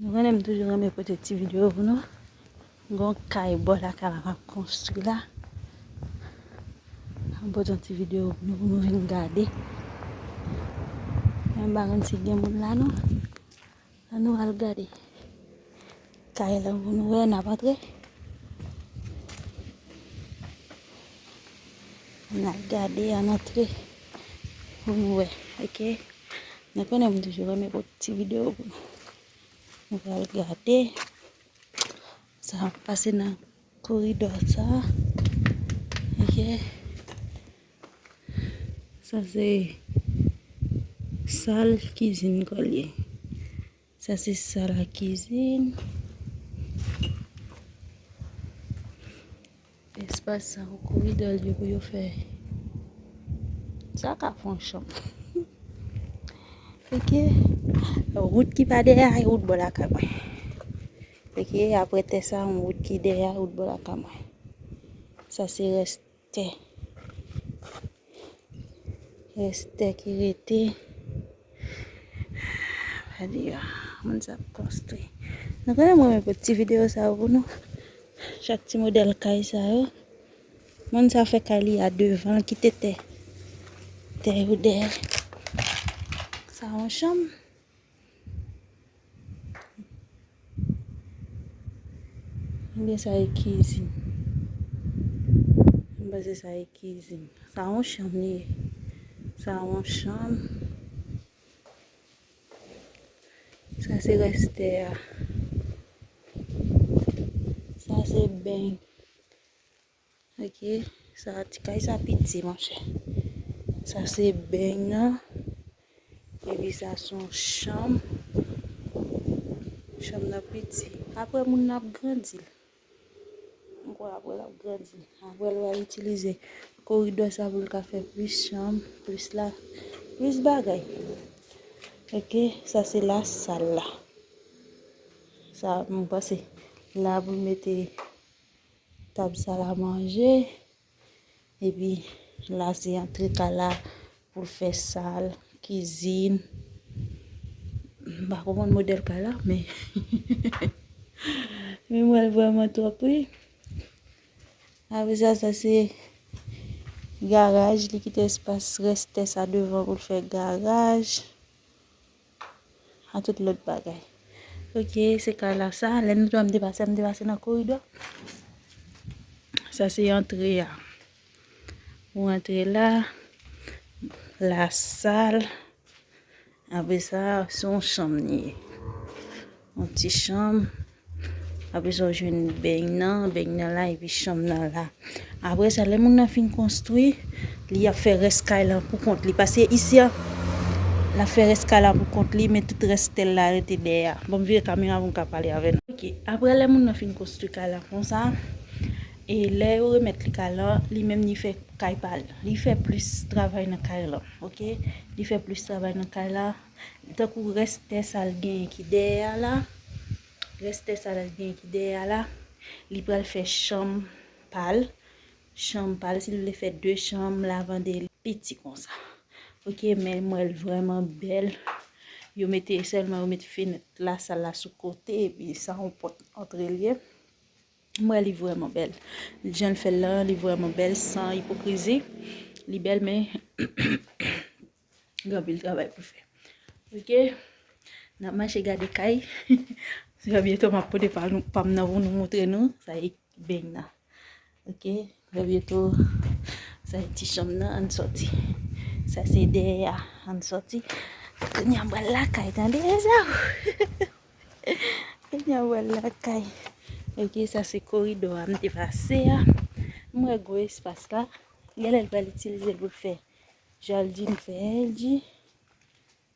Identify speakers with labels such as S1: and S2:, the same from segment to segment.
S1: Nou konnen m toujou renmen pote ti video pou nou. Gon kay bò lakay la kap konstwi la. M pote yon ti video pou nou pou nou vin gade. M pa konn si gen moun la non. An nou al gade. Kay la pou nou wè nap antre. Nap gade an antre pou nou wè ok nou konnen m toujou renmen pote ti video pou nou nou pral gade sa ap pase nan koridò sa ok sa se sal kizin kòl ye. Sa se sal a kizin. Espas sa pou koridòl yo pou yo fè. Sa ka fon chanm. Ok. Wout ki pa dèyè a e wout bò la kay mwen. Ok, apre tè sa yon wout ki dèyè a e wout bò la kay mwen. Sa se rès. tè. Rès tè ki rete. Gade yo. Moun sa ap konstwi. Nou konnen mwen mwen pou ti video sa yo pou nou. Chak ti modèl kay sa yo. Moun sa fè kay li a devan. L kite tè. Tè yo dèyè. Sa yon chanm. Ebyen sa e kizin. Mwen panse sa e kizin. Sa yon chanm li ye. Sa yon chanm. Sa se rès tè a. Sa se beny. Ok sa ti kay sa piti monchè. Sa se beny nan. Epi sa son chanm. Chanm nan piti. Apre moun nan ap grandi. M kwè apre l ap grandi. Apre l wal itilize koridò sa pou l ka fè plis chanm. Plis la. Plis bagay. Ok sa se la sal la. Sa m panse. La pou l mete. Tab sa la manje. Epi la se antre kay la pou fè sal, kizin. M pa konprann modèl kay la men. Men m wè l vrèman twòp wi. Apre sa, sa se garaj. Li kite espas rès tè sa devan pou l fè garaj. A tout lòt bagay. Ok, se kay la sa. Lè nou di an depase, an depase nan koridò. Sa se antre a. Ou antre la. La sal. Apre sa, son chanm li ye. Yon ti chanm. Apre sa ou jwenn beny nan. Beny nan la epi chanm nan la. Apre sa lè moun nan fin konstwi. Li ap fè rès kay lan pou kont li. Pase isi a. L ap fè rès kay la pou kont li. Men tout rès tèl la rete dèyè a. Banm vire kamera pou m ka pale avè nou. Ok. Apre lè moun nan fin konstwi kay la konsa. E lè yo remèt li kay lan. Li menm li fè kay pa l. Li fè plis travay nan kay lan. Ok. Li fè plis travay nan kay la. Tankou rès tè sa l genyen ki dèyè a la, rès tè sa l genyen ki dèyè a la, li pral fè chanm pa l, chanm pa l, si l vle fè de chanm, lavande li piti konsa. Ok, men mwen l vrèman bèl. Yo mete, sèlman yo mete fenèt la, sal la sou kote, epi sa yon pòt antre l ye. Mwen li vrèman bèl. Jan l fè l la, li vrèman bèl, san ipokrizi. Li bèl men. Gen anpil travay pou fè. Ok. N ap mache gade kay. Trè byento m ap pote pa m nan pou nou montre nou. Sa e beny nan. Ok. Trè byento. Sa e ti chanm nan. An n soti. Sa se dèyè a. An n soti. Kounye a m pral lakay. Tande e sa w. Kounye a m pral lakay. Ok. Sa se koridò a m te pase a. M wè gwo espas la. Gen lè l pral itilize l pou l fè. Jardin Fendi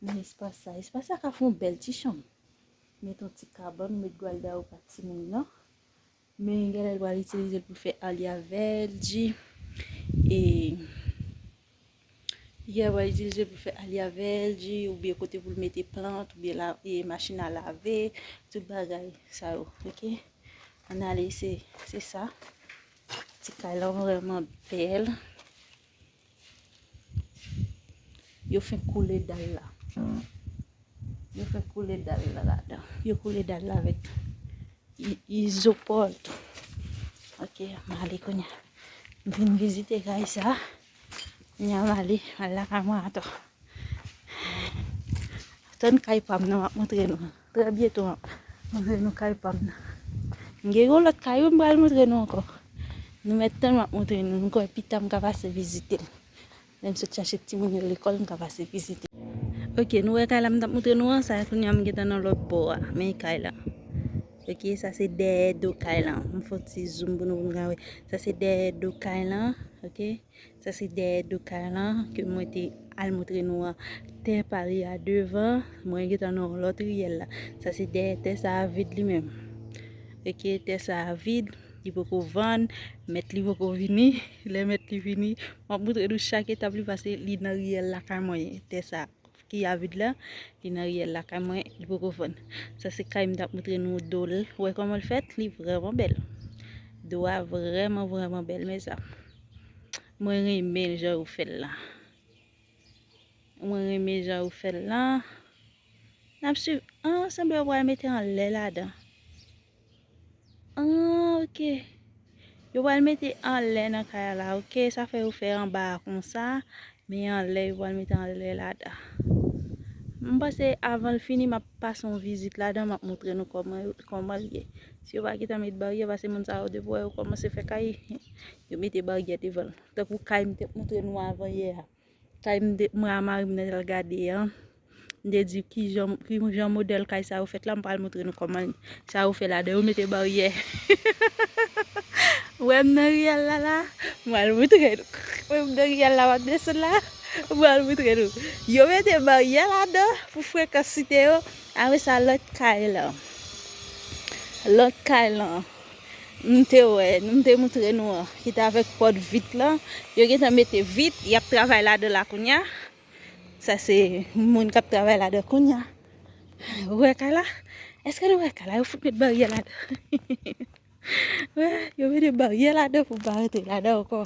S1: nan espas sa. Espas sa ka fon bèl ti chanm. Met yon ti kabann, met gwalda ou pa ti moun nan. Men gen lè lwa itilize pou fè alia vèdi. E gen lwa itilize pou fè alia vèdi ou byen kote pou l mete plant ou byen e machin a lave. Tout bagay sa yo. Ok. Anale se sa. Ti kay lan vreman bèl. Yo fin koule dal la. Yo fin koule dal la la dan. Yo koule dal la vek izoport. Ok, mali konya. Vin vizite kay sa. Konya mali, mali la ka mwen ato. Ton kay pa mnen wap moutre nou. Trè byento m ap montre nou kay pa m nan. M gen yon lòt kay wi m pral montre nou ankò. Nou mèt tann m ap montre nou. M kwè pita m ka pase vizite l. Lè m sot chache timoun yo lekòl m ka pase vizite l. Ok nou wè kay la m t ap montre nou an? Sa a kounye a m gentan nan lòt bò a. Men kay la. Ok sa se dèyè do kay lan. M fè yon ti zoom pou nou pou nou ka wè. Sa se dèyè do kay lan. Ok. Sa se dèyè do kay lan ke mwen te al moutre nou an. Tè pa li a devan, mwen gentan nan yon lòt riyèl la. Sa se dèyè tè sa a vid li menm. Ok, tè sa a vid, li poko vann, mèt li poko vini. Lè mèt li vini, mwen ap moutre nou chak etap li pase li nan riyèl lakay mwen. Tè sa a. ki avid la, li nan riyèl la kay mwen, li poko vann. Sa se kay m tap moutre nou do l. Wè kòman l fèt, li vrèman bèl. Do a vrèman vrèman bèl mèzanm. Mwen renmen jan yo fèl la. Mwen renmen jan yo fèl la. Nap swiv. An, sanble yo pral mete anlè ladan. Aah ok Yo pral mete anlè nan kay a la ok sa fè yo fè anba a konsa men anlè yo pral mete anlè la da m panse avan l fini map pase yon vizit la dan map montre nou kòman l ye si yo pa gentan met baryè pase moun sa yo depi yo wè yo kòmanse fè kay yo mete baryè devan l tankou kay m te montre nou avan yè a. Kay m de mwen a mari m nan al gade an, m te di ki jan ki jan modèl kay sa yo fèt la, m pral montre nou kòman sa yo fè ladan yo mete baryè. Wè m nan riyèl la la, m pral montre nou. Wè m nan riyèl la m ap desann la, m pral montre nou. Yo mete baryè ladan pou frekans site yo, apre sa lòt kay lan. Lòt kay lan. Nou te wè, nou m te moutre nou an, ki te avèk pòt vit lan, yo gen tan mete vit, y ap travay ladan la kounye a, sa se moun k ap travay ladan l kounye a, ou wè kay la, èske nou wè kay la, yo fout met baryè ladan, yo mete baryè ladan pou m pa rantre ladan ankò,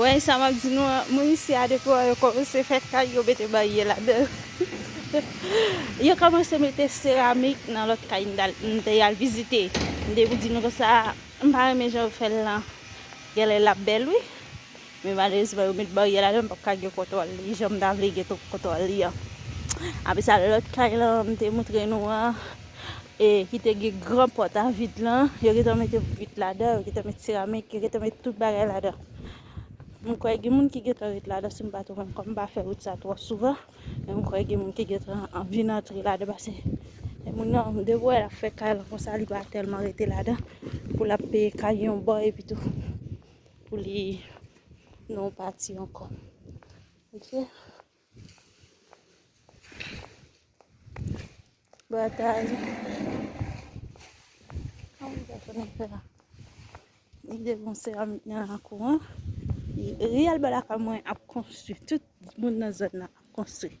S1: Woy sa map di nou an moun isi a depi wè yo kòmanse fè kay yo mete barye ladan yo kòmanse mete seramik nan lòt kay m te al vizite m te di nou konsa m pa renmen jan yo fèl lan genlè lap bèl wi. Men malerezman yo met baryè ladanl m pap ka gen kontwòl li janm ta vle gen kontwòl li an. Apre sa lòt kay lan m te moutre nou an e ki te gen gran pòt a vid lan yo gentan mete vit ladan yo gentan met seramik yo gentan met tout bagay ladan. M kwè gen moun ki gentan ret ladan si m pa twonpem kòm m pa fè wout sa twò souvan men m kwè gen moun ki gentan vin antre ladan pase e moun nan depi w wè l ap fè kay lan konsa li pa tèlman rete ladan pou l ap peye kay yon bò epitou. pou li non pati anko. Ok. Batay. An mwen pa konen fè la. Ni de bon se an mwen an akou an. Riyal balaka mwen ap konstri. Tout moun nan zon nan ap konstri.